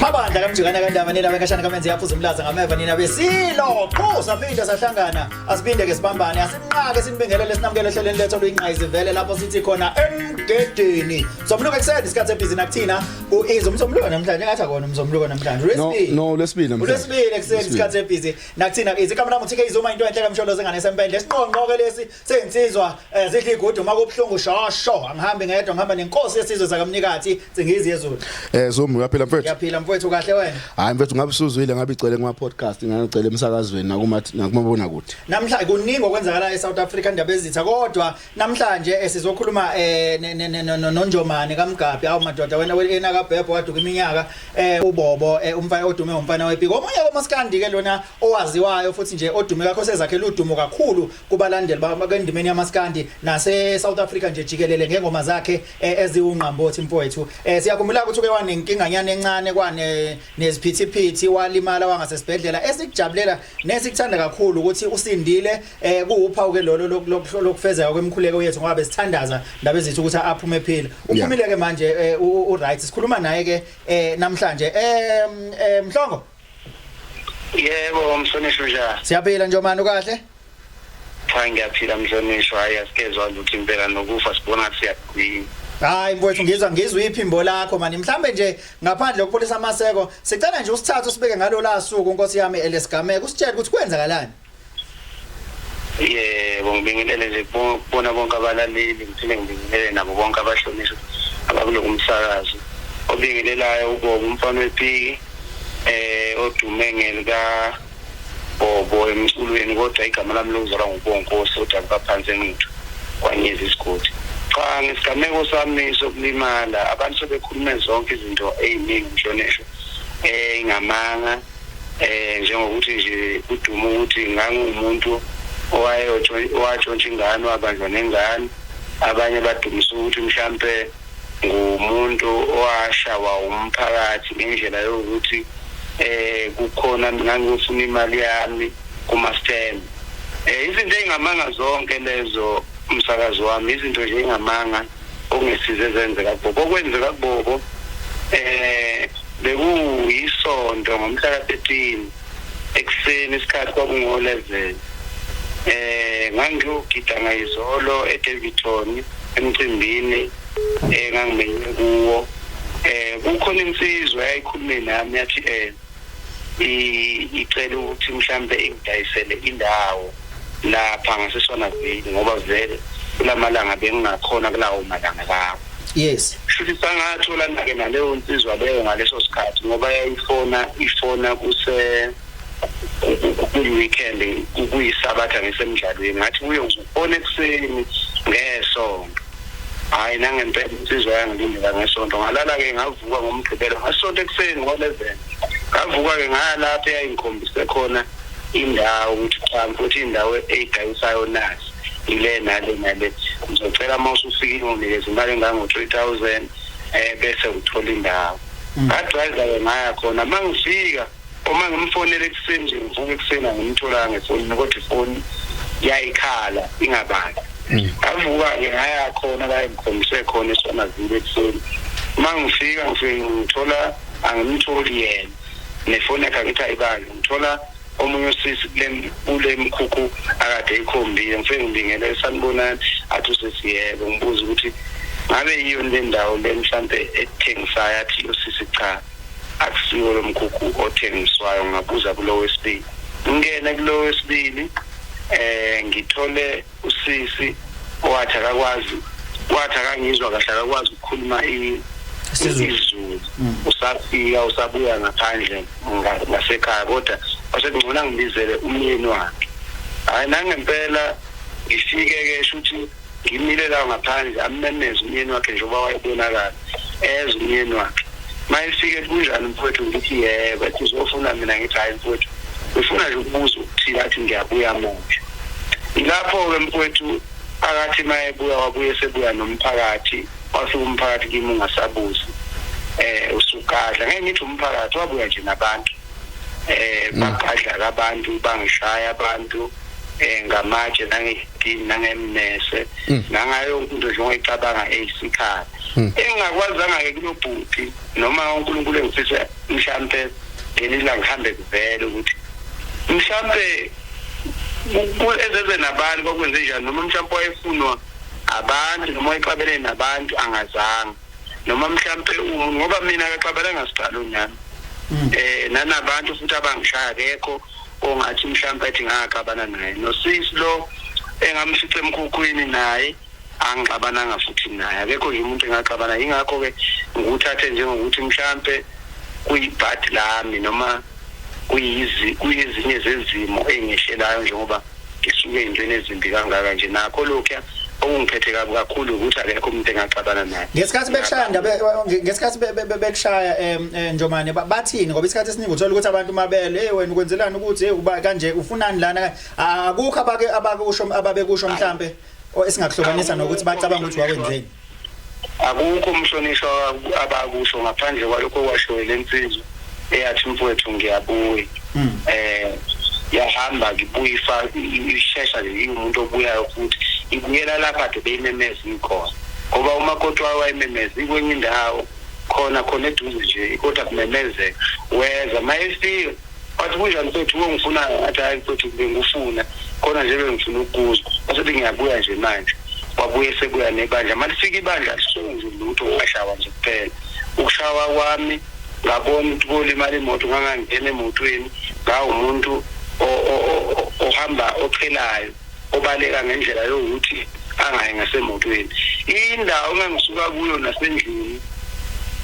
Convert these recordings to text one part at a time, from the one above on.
mabandla kamjikana kandaba nina benkashana kamenze yaphuza umlaza ngameva nina besilo qhu saphinde sahlangana asiphinde ke sibambane asinqake sinibingelele sinamukele ehleleni lethu oluyinqayizi vele lapho sithi khona emgedeni somluko ekuseni isikhathi ebhizi nakuthina ku-ease umsomluko namhlanje engathi akona umsomluko namhlanje No, ulwesibili no, ulwesibili namhlanje. ulwesibili ekuseni Ulwesibili. isikhathi ebhizi nakuthina ke izikhamu namuthi ke izuma into enhle kamsholo zengane sempendle siqonqo ke lesi sensizwa eh, zidla igudu uma kubuhlungu shosho angihambi ngedwa ngihamba nenkosi yesizwe zakamnikathi cingizi yezulu eh zomu uyaphila mfethu uyaphila mfethu kahle wena hayi mfethu ngabe usuzwile ngabe icele kuma podcast ngangicele emsakazweni nakuma nakumabona kude namhla kuningi okwenzakala eSouth Africa indaba ezitha kodwa Namhlanje eh, sizokhuluma eh noNjomane kaMgabhi awu madoda wena wena kaBhebho waduka iminyaka eh uBobo eh, umfana odume umfana wePiko omunye komaskandi ke lona owaziwayo futhi nje odume kakho sezakhe ludumo kakhulu kubalandeli bakendimeni yamaskandi nase South Africa nje jikelele ngengoma zakhe eh, eziwungqambothi mfowethu eh siyakhumbula ukuthi uke wanenkinga nyane encane kwane neziphithiphithi walimala wangasesibhedlela esikujabulela nesikuthanda kakhulu ukuthi usindile eh kuwuphawu ke lolo lokufezeka kwemkhuleko yethu ngoba besithandaza ndaba ezithi ukuthi aphume ephila uphumile ke manje eh, u right sikhuluma naye ke eh, namhlanje eh, eh mhlongo yebo msonishwa njani siyaphila nje manje kahle cha ngiyaphila mhlonishwa hayi asikezwa lutho impela nokufa sibona ukuthi siyagcina hayi mfowethu ngizwa ngizwa iphimbo lakho mani mhlambe nje ngaphandle kokupholisa amaseko sicela nje usithathe usibeke ngalo la suku nkosi yami elesigameko usitshele ukuthi kwenzakalani yebo ngibingelele nje kubona bonke abalaleli ngithile ngibingelele nabo bonke abahlonishwa abakulo kumsakazo obingelelayo ubobo umfana wepiki eh odume ngelika bobo emculweni kodwa igama lami lokuzalwa ngubonkosi kodwa kubaphansi engithu kwanyeza isigodi cha ngesigameko sami sokulimala abantu sebekhulume zonke izinto eziningi mhlonishwa eh ingamanga eh, Eh njengokuthi nje udumo ukuthi ngangumuntu owatshontsha ingane wabanjwa nengane abanye badumisa ukuthi mhlampe ngumuntu owashawa umphakathi ngendlela yokuthi eh kukhona ngangifuna imali yami kuma stand eh izinto engamanga zonke lezo umsakazi wami izinto nje engamanga okungesize ezenzeka kubobo okwenzeka kubobo eh bekuyisonto ngomhla ka-13 ekuseni isikhathi kwakungo-11 eh ngangiyogida ngayizolo eDavidton emcimbini engangimenye eh, kuwo eh kukhona insizwa eyayikhulume nami yathi eh icele ukuthi mhlambe ingidayisele indawo lapha ngasesona vini ngoba vele kulamalanga bengingakhona kulawo malanga lawo yes futhi sangathola nake naleyo nsizwa leyo ngaleso sikhathi ngoba yayifona ifona kuse kuyi-weekend kuyisabatha ngisemdlalweni ngathi kuyo Ona ekuseni ngesonto. Hayi nangempela insizwa yangilindela ngesonto ngalala ke ngavuka ngomgqibelo ngasonto ekuseni ngo-11 ngavuka ke ngalapho eyayingikhombise khona indawo ukuthi cha futhi indawo eyidayisayo nazi ile nale nale ngizocela uma usufikile unginikeza imali engango-three thousand um bese ngithola indawo mm. ngadrive-ke ngaya khona uma ngifika uma ngimfonela ekuseni nje ngivuka ekuseni angimtholanga ngefonini kodwa ifoni yayikhala ingabali hmm. ngavuka-ke ngaya khona la engikhombise khona esonazile ekuseni uma ngifika ngifike ngithola angimtholi yena nefoni yakhe angithi ayibali ngithola omunye usisi kule mkhukhu akade ikhombile ngifike ngibingele sanibonani athi usesiyebo ngibuza ukuthi ngabe yiyo le ndawo le mhlampe ethengisayo athi usisi cha Akusiwo lo mkhukhu othengiswayo, ngabuza kulo wesibili. Ngingene kulo wesibili um ngithole usisi owathi akakwazi wathi akangizwa kahle akakwazi ukukhuluma isizulu mm. usafika usabuya ngaphandle ngasekhaya kodwa wasekungcona ngibizele umyeni wakhe hhayi nangempela ngifike-ke sho ukuthi ngimile la ngaphandle ammemeze umyeni wakhe njengoba wayebonakala eze umyeni wakhe mayefike kunjani mfowethu ngithi yebo ethi uzofuna mina ngithi hhayi mfowethu ngifuna nje ukubuza ukuthile athi ngiyabuya manje ilapho-ke mfowethu phakathi mayebuya wabuye sebuya nomphakathi wasuke umphakathi kimi ungasabuzi um usugadla ngeke ngithi umphakathi wabuya nje nabantu eh bagadla abantu bangishaya abantu eh ngamatshe nangedini nangemnese mm. nangayo into nje ongicabanga eyisikhala mm. engakwazanga ke kulobhuti noma uNkulunkulu engifisa mhlambe ngelila ngihambe kuvele ukuthi mhlambe ezeze nabantu kwakwenze njani noma mhlambe wayefunwa abantu noma wayexabelene nabantu angazanga noma mhlampe umuntu ngoba mina akaxabalanga sibhalo nami mm. eh nanabantu futhi abangishaya kekho ongathi mhlampe athi ngakaxabana naye nosisi lo engamshithe emkhukhwini naye angixabananga futhi naye akekho nje umuntu engaxabana yingakho-ke ngikuthathe njengokuthi mhlampe kuyibhadi lami noma kuyizi kuyezinye zezimo engehlelayo njengoba ngisuke entweni ezimbi kangaka nje nakho lokhuya okungiphethe kabi kakhulu ukuthi akekho umuntu engaxabana naye ngesikhathi bekushaya ndabe ngesikhathi bekushaya eh, njomane bathini ngoba isikhathi esiningi uthola ukuthi abantu mabele hey wena ukwenzelani ukuthi hey uba kanje ufunani lana akukho abake abakusho ababekusho mhlambe esingakuhlukanisa nokuthi bacabanga ukuthi wakwenzeni Akukho umhlonishwa abakusho ngaphandle kwalokho kwashoyo lensizwa eyathi mfowethu ngiyabuya hmm. eh yahamba ngibuye ifa ishesha nje iwumuntu obuyayo futhi ibuyela lapha de beyimemeza ikhona ngoba uma kodwa wayememeza ikwenye indawo khona khona eduze nje kodwa kumemezeka weza mayefika wathi kunjani mfethu wongifunayo ngathi hayi mfethu bengufuna khona nje bengifuna ukukuzwa wasethi ngiyabuya nje manje wabuye sebuya nebandla uma lifika ibandla lisenzi lutho ngashawa nje kuphela ukushawa kwami ngabona ukuthi kolimala imoto ngangangena emotweni ngawumuntu ohamba oqhelayo obaleka ngendlela yokuthi angayi ngasemotweni indawo engangisuka kuyo nasendlini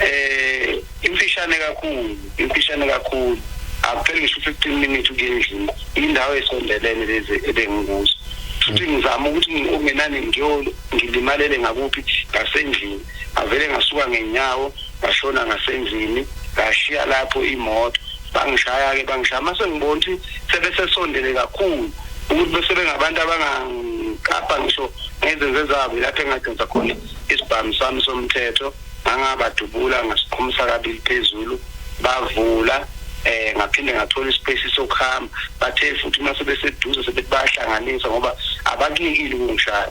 eh imfishane kakhulu imfishane kakhulu akupheli ngisho 15 minutes ukuyendlini indawo esondelene lezi ebengikuzo futhi ngizama ukuthi ungenani ngiyolo ngilimalele ngakuphi ngasendlini avele ngasuka ngenyawo ngashona ngasendlini ngashiya lapho imoto bangishaya ke bangishaya mase ngibona ukuthi sebesesondele kakhulu ukuthi bese bengabantu abangaqapha ngisho ngezenzo zabo lapho engadenza khona isibhamu sami somthetho ngangabadubula ngasiqhumisa kabili phezulu bavula eh ngaphinde ngathola ispace sokuhamba bathe futhi uma sebeseduze sebebahlanganisa ngoba abakuyekile ukungishaya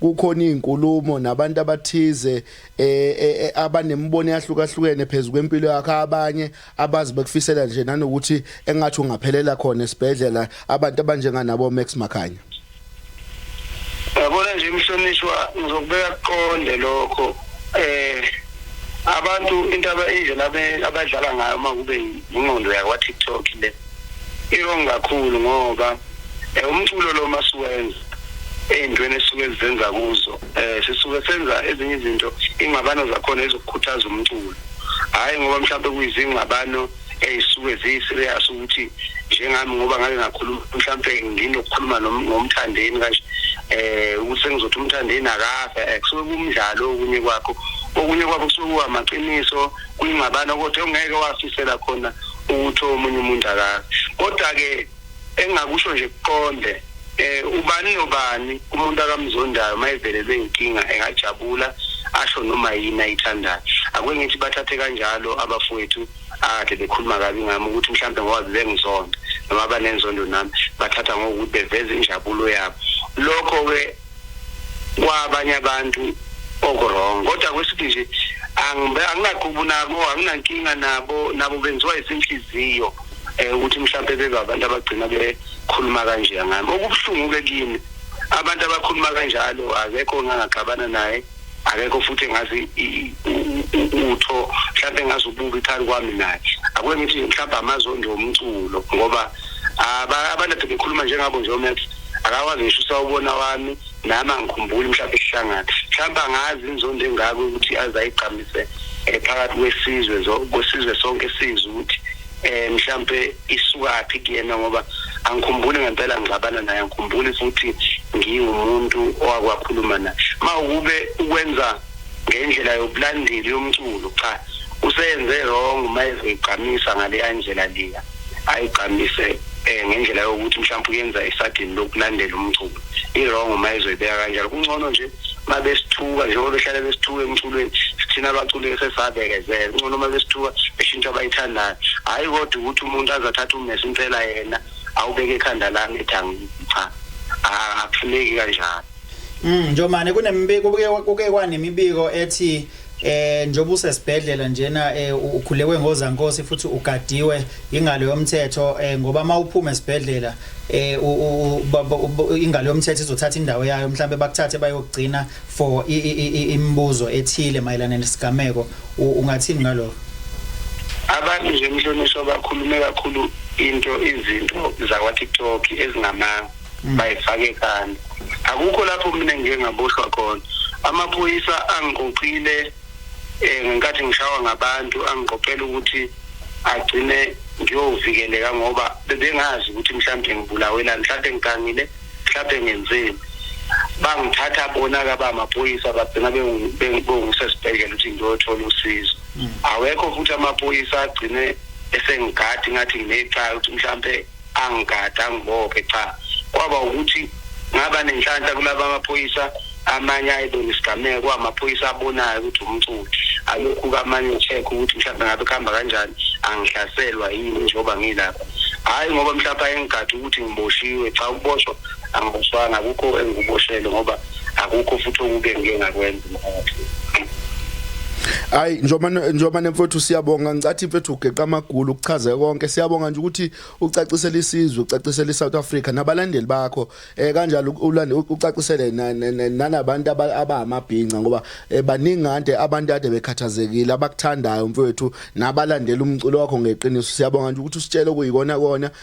kukhona izinkulumo nabantu abathize e, e, e, abanemibono yahlukahlukene phezulu kwempilo yakhe abanye abazi bekufisela nje nanokuthi engathi ungaphelela khona esibhedlela abantu abanjenganabo Max Makhanya yabona nje mhlonishwa ngizokubeka kuqonde lokho eh abantu into indlela abadlala ngayo uma kube yingqondo yakwa TikTok le iwrong kakhulu ngoba eh, umculo lo masiwenza ey'ntweni esuke sizenza kuzo um sisuke senza ezinye izinto ingxabano zakhona ezokukhuthaza umculo hhayi ngoba mhlawumbe kuyizingxabano ey'suke ziyi-serious ukuthi njengami ngoba ngake ngakhuluma mhlawumpe nginokukhuluma ngomthandeni kanje eh ukuthi sengizothi umthandeni akafe eh, kusuke kumdlalo okunye kwakho okunye kwakho kusuke kuwamaqiniso kuyingxabano kodwa ongeke wafisela khona ukuthi omunye umuntu akazi kodwa-ke engingakusho nje kuqonde eh ubani nobani umuntu akamzondayo mayevelelwe inkinga engajabula asho noma yini ayithandayo akwengithi bathathe kanjalo abafowethu akade bekhuluma kabi ngami ukuthi mhlawumbe ngoba bebengizonda noma banenzondo nami bathatha ngokuthi beveza injabulo yabo lokho-ke kwabanye abantu okuwrong kodwa kwesithi nje anginaqubu nabo anginankinga nabo nabo benziwa isinhliziyo eh ukuthi mhlawumbe bebe abantu abagcina bekhuluma kanje ngami okubuhlungu ke kimi abantu abakhuluma kanjalo akekho ngangagxabana naye akekho futhi engazi utho mhlawumbe engazi ububi phakathi kwami naye akuke ngithi mhlawumbe amazondi omculo ngoba abantu ade bekhuluma njengabo nje omax akakwazi ngisho usawubona wami nami angikhumbuli mhlawumbe isihlangana mhlawumbe angazi inzondo engako ukuthi aze ayigqamise eh, phakathi kwesizwe kwesizwe sonke sizwe ukuthi eh mhlambe isukaphi kuyena ngoba angikhumbuli ngempela ngixabana naye angikhumbuli futhi ngiwumuntu owakwakhuluma naye mawukube ukwenza ngendlela yobulandeli yomculo cha useyenze wrong uma ezigqamisa ngaleya ndlela leya ayigqamise eh ngendlela yokuthi mhlawumbe uyenza isadini lokulandela umculo i-wrong uma ezoyibeka kanjalo kungcono nje uma besithuka njengoba behlale besithuka emculweni sithina abaculi sesabekezela kungcono uma besithuka beshintsha abayithandayo hhayi kodwa ukuthi umuntu azathatha umesi impela yena awubeke ekhanda lami ethi angicha akufuneki kanjalo Mm Njomane kunemibiko kuke kwanemibiko ethi eh njengoba usesibhedlela njena eh, ukhulekwe ngozankosi futhi ugadiwe ingalo yomthetho eh, ngoba mawuphuma esibhedlela eh ingalo yomthetho izothatha indawo yayo mhlambe bakuthathe bayogcina for imibuzo ethile mayelana nesigameko ungathini ngalokho abantu nje mhlonishwa bakhulume kakhulu into izinto zakwa TikTok ezingama bayifake ekhanda akukho lapho mina ngike ngaboshwa khona amaphoyisa angiqoqile eh, ngenkathi ngishawa ngabantu angiqoqela ukuthi agcine ngiyovikeleka ngoba bebengazi ukuthi mhlawumbe ngibulawelani mhlawumbe ngigangile mhlawumbe ngenzeni bangithatha bona kaba amaphoyisa bagcina bengisesibhedlela ukuthi ngiyothola usizo mm. awekho futhi amaphoyisa agcine esengigadi ngathi nginecala ukuthi mhlawumbe angigada angibophe cha kwaba ukuthi ngaba nenhlanhla kulaba amaphoyisa amanye ayibona isigameko amaphoyisa abonayo ukuthi umculo alokhu kamanye ucheck ukuthi mhlawumbe ngabe kuhamba kanjani angihlaselwa yini njengoba ngilapha hhayi ngoba mhlawumbe ayengigade ukuthi ngiboshiwe cha ukuboshwa angiboshwanga akukho engikuboshele ngoba akukho futhi okuke ngike ngakwenza umphakathi Hayi njengoba njengoba nemfowethu siyabonga ngicathi mfethu ugeqa amagulu ukuchaze konke siyabonga nje ukuthi ucacisele isizwe ucacisele iSouth Africa nabalandeli bakho eh kanjalo ulande ucacisele nanabantu abamabhinca ngoba eh, baningi kade abantu ade bekhathazekile abakuthandayo mfowethu nabalandela umculo wakho ngeqiniso siyabonga nje ukuthi usitshele kuyikona kona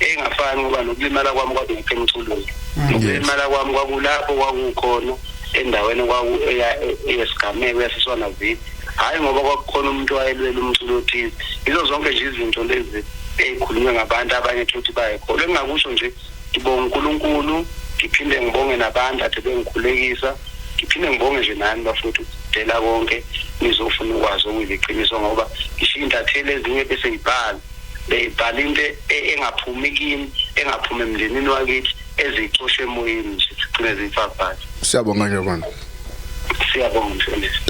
engafani ngoba nokulimala kwami kwakuphi emculweni mm. nokulimala kwami kwakulapho kwakukhona endaweni eyesigameko yasiswana vidi hhayi ngoba kwakukhona umuntu wayelwela umculo othize yizo zonke nje izinto lezi ey'khulunywe ngabantu abanye thuthi bayekholwa engingakusho nje ngibonga unkulunkulu ngiphinde ngibonge nabantu ade bengikhulekisa ngiphinde ngibonge nje nani bafowethu dela konke nizofuna ukwazi okuyiqiniso ngoba ngisho iy'ntatheli ezinye bese yibhala beyibhala into e-, e-, engaphumi kimi engaphumi emndenini wakithi ezicoshe emoyeni nje sigcine ziyifafazile siyabonga nje kona siyabonga mfundisi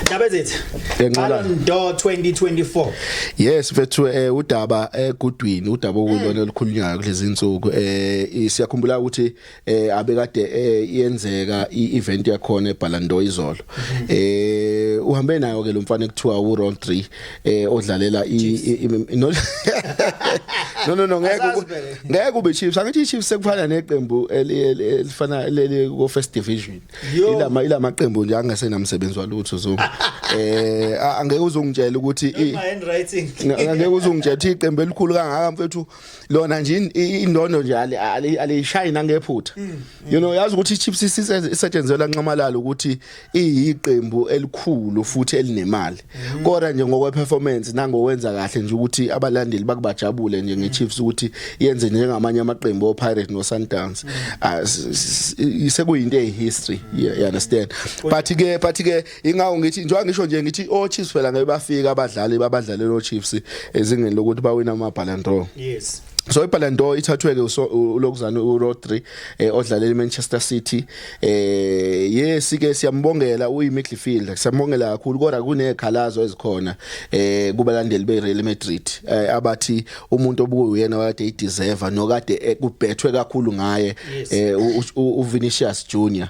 Ndaba zethu. Yenqala ndo 2024. Yes mfethu eh udaba egudwini udaba okulona eh, olukhulunyayo kulezi insuku eh siyakhumbula ukuthi eh abekade eh, yenzeka i-event yakhona eBallando izolo mhm. eh uhambe nayo ke lo mfana ekuthiwa u Ron 3 eh odlalela i no no no ngeke ngeke ube Chiefs angithi iChiefs sekufana neqembu elifana leli ko first division ilama ilama qembu nje angasena msebenzi walutho zo eh angeke uzongitshela ukuthi i handwriting angeke uzongitshela ukuthi iqembu elikhulu kangaka mfethu lona nje indondo nje aliyishayi nangephutha mm, mm. you know yazi ukuthi iChiefs isetshenzelwa nxamalala ukuthi iyiqembu elikhulu futhi elinemali mm. kodwa nje ngokwe performance nangowenza kahle nje ukuthi abalandeli bakubajabule nje ngeChiefs ukuthi yenze njengamanye amaqembu oPirates noSundowns ah, sekuyinto ehistory you understand but ke but ke Ingawo ngithi njengoba ngisho nje ngithi o Chiefs phela ngeke bafika abadlali babadlalela o Chiefs ezingeni lokuthi bawina ama Ballon d'Or. Yes. so iballon d'or ithathwe ke ulokuzana uRodri eh, odlalela iManchester City eh yes ke siyambongela uyi midfielder siyambongela kakhulu kodwa kunekhalazo ezikhona eh kubalandeli beReal Madrid eh, abathi umuntu obukuyena wakade ideserve nokade eh, kubhethwe kakhulu ngaye eh uVinicius Junior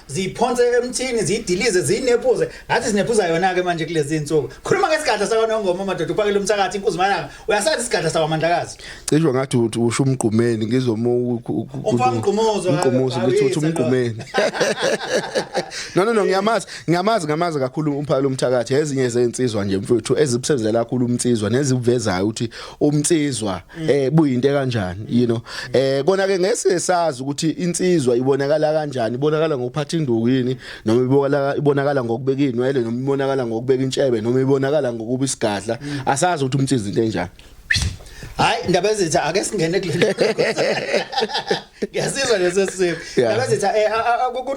ziyiphonse emthini ziyidilize ziyinephuze ngathi sinephuza yona ke manje kulezi insuku khuluma ngesigadla sakwanongoma madoda uphakele umthakathi inkuzi malanga uyasazi isigadla sakwamandlakazi cisho ngathi uthi usho umgqumeni ngizomo umgqumuzo umgqumuzo ngithi uthi umgqumeni no no no ngiyamazi ngiyamazi ngamazi kakhulu umphakele umthakathi ezinye zensizwa nje mfowethu ezibusebenzela kakhulu umtsizwa nezivezayo ukuthi umtsizwa Mm. eh buyinte kanjani you know eh kona ke ngese sazi ukuthi insizwa ibonakala kanjani ibonakala ngokuphatha induku yini noma ibonakala ibonakala ngokubeka inwele noma ibonakala ngokubeka intshebe noma ibonakala ngokuba isigadla mm. asazi ukuthi umthizi into enjani hayi indaba ezitha ake singene kulento Ngiyasizwa leso simo. Laba sithi eh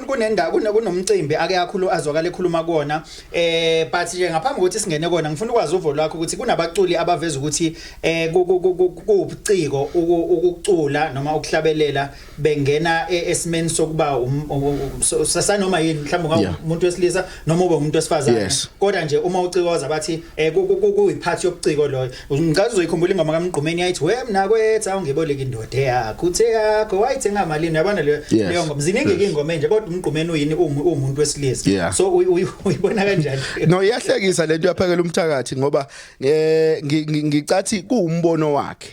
kunendawo kunomcimbi ake akhulu azwakala ekhuluma kuona eh but nje ngaphambi kokuthi singene kona ngifuna ukwazi uvo lwakho ukuthi kunabaculi abaveza ukuthi eh kubuciko ukucula noma ukuhlabelela bengena e, esimeni sokuba um, um, um, sasanoma yini mhlawumbe ngawumuntu wesilisa noma ube umuntu wesifazane kodwa nje uma ucikoza bathi eh kuyiphathi yobuciko loyo Ngicazwe uyikhumbula ingoma kaMgqumeni yayithi we mina kwetha ungiboleka indoda yakho uthe yakho wayithenga malini yabona leyo Yes. leyo ngoma ziningi ke ingoma enje kodwa uMgqumeni uyini ungu- ungumuntu wesilisa Yeah. so uy- uy- uyibona kanjani no iyahlekisa lento yaphakela umthakathi ngoba eh ngi- ngi- ngicathi kuwumbono wakhe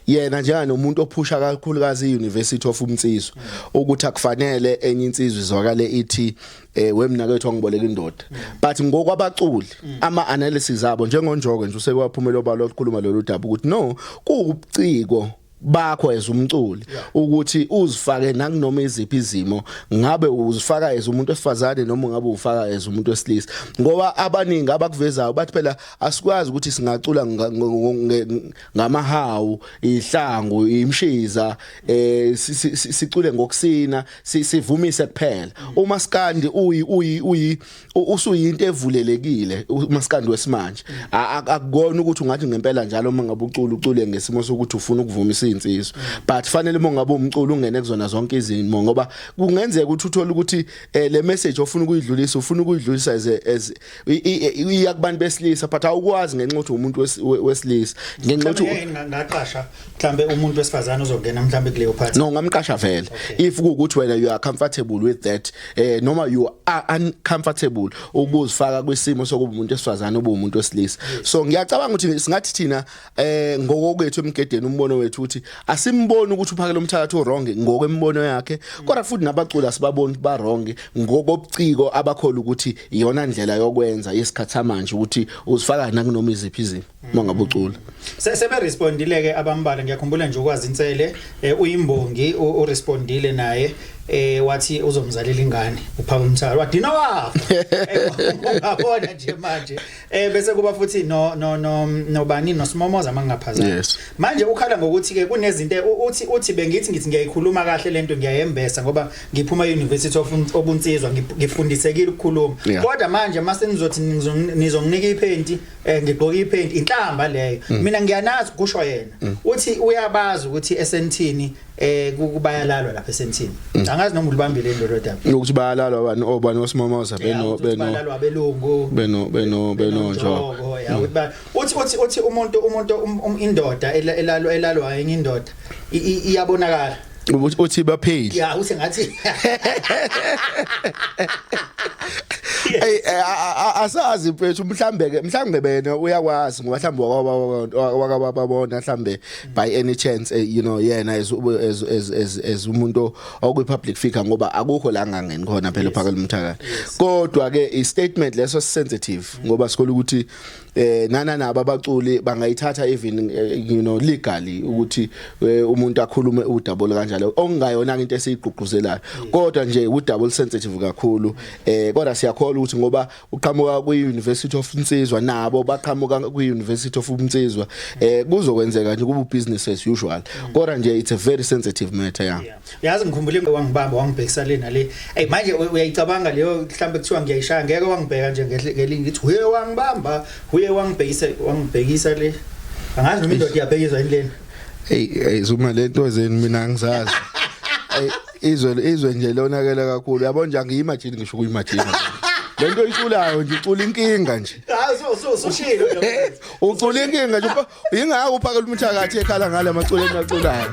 yena njenga nomuntu ophusha kakhulukazi iUniversity of Umtsizwa ukuthi akufanele enye insizwe izwakale ithi eh wemnakethu angiboleka indoda but ngokwabaculi ama analysis abo njengonjoke nje usewaphumela obalo lokukhuluma lolu daba ukuthi no kuwubuciko bakho as umculi ukuthi uzifake nakunoma iziphi izimo ngabe uzifaka as umuntu wesifazane noma ngabe ufaka as umuntu wesilisa ngoba abaningi abakuvezayo bathi phela asikwazi ukuthi singacula ngamahawu ihlangu imshiza eh sicule ngokusina sivumise kuphela umaskandi uyi uyi uyi usuyinto evulelekile umaskandi wesimanje akukona ukuthi ungathi ngempela njalo uma ngabe ucula ucule ngesimo sokuthi ufuna ukuvumisa insizwa but fanele uma ngabe umculo ungene kuzona zonke izimo ngoba kungenzeka ukuthi uthole ukuthi eh, le message ofuna ukuyidlulisa ufuna ukuyidlulisa as as iya kubantu besilisa but awukwazi ngenxa ukuthi umuntu wesilisa ngenxa ukuthi ngaqasha mhlambe umuntu wesifazane ozongena mhlambe kuleyo party no ngamqasha vele if ukuthi wena you are comfortable with that eh noma you are uncomfortable ukuzifaka kwisimo sokuba umuntu wesifazane obumuntu wesilisa so ngiyacabanga ukuthi singathi thina eh ngokokwethu emgedeni umbono wethu uthi asimboni ukuthi uphakela umthakathi wrong ngokwembono yakhe kodwa futhi nabaculi asibaboni ba wrong ngokobuciko abakhola ukuthi iyona ndlela yokwenza yesikhathi samanje ukuthi uzifaka nakunoma iziphi izimo mangabe ucula sebe respondile ke abambala ngiyakhumbula nje ukwazi insele eh, uyimbongi u respondile naye eh wathi uzomzalela ingane uphaka umthalo wadina wafa eh, ungabona nje manje Eh bese kuba futhi no no no nobani nosimomoza mangingaphazami. Yes. Manje ukhala ngokuthi ke kunezinto uthi uthi bengithi ngithi ngiyayikhuluma kahle lento ngiyayembesa ngoba ngiphuma University of obunsizwa ngifundisekile ukukhuluma. Yeah. Kodwa manje mase nizothi nizonginika iphenti eh ngigqoka iphenti inhlamba leyo. Mm. Mina ngiyanazi kusho yena. Mm. Uthi uyabazi ukuthi esentini eh kubayalalwa lapha esemthini mm. angazi noma ulibambile lelo daba ukuthi bayalalwa bani obani oh, osimomoza beno beno bayalalwa belungu beno beno beno njo mm. uthi uthi uthi umuntu umuntu um, um, indoda elalwa elalwa enye indoda iyabonakala ukuthi uthi bapheli ya uthi ngathi Ey eh, asazi mfethu mhlambe ke mhlambe bena uyakwazi ngoba mhlambe wakababona mhlambe by any chance eh, you know yena as as as as, as umuntu okwi public figure ngoba akukho la ngangeni khona phela phaka lomthakala kodwa ke i statement leso sensitive ngoba sikole ukuthi eh nana nabo abaculi bangayithatha even eh, you know legally ukuthi eh, umuntu akhulume udabula kanjalo okungayona into esiyigqugquzelayo kodwa nje udabula sensitive kakhulu eh kodwa siyakholwa ukuthi ngoba uqhamuka kwi-University of Nsizwa nabo baqhamuka kwi-University of Nsizwa eh kuzokwenzeka nje kubu business as usual kodwa nje it's a very sensitive matter yeah yazi ngikhumbule wangibamba wangibhekisa lena le hey manje uyayicabanga leyo mhlambe kuthiwa ngiyayishaya ngeke wangibheka nje ngelinye ngithi huye wangibamba huye wangibhekisa wangibhekisa le angazi noma indoda iyabhekiswa yini lena hey hey zuma lento ezeni mina angizazi izwe izwe nje lonakela kakhulu yabo nje angiyimagine ngisho kuyimagine lento oyiculayo nje ucula inkinga nje hayi so so so shilo ucula inkinga nje yingakho uphakela umthakathi ekhala ngale amaculo enaculayo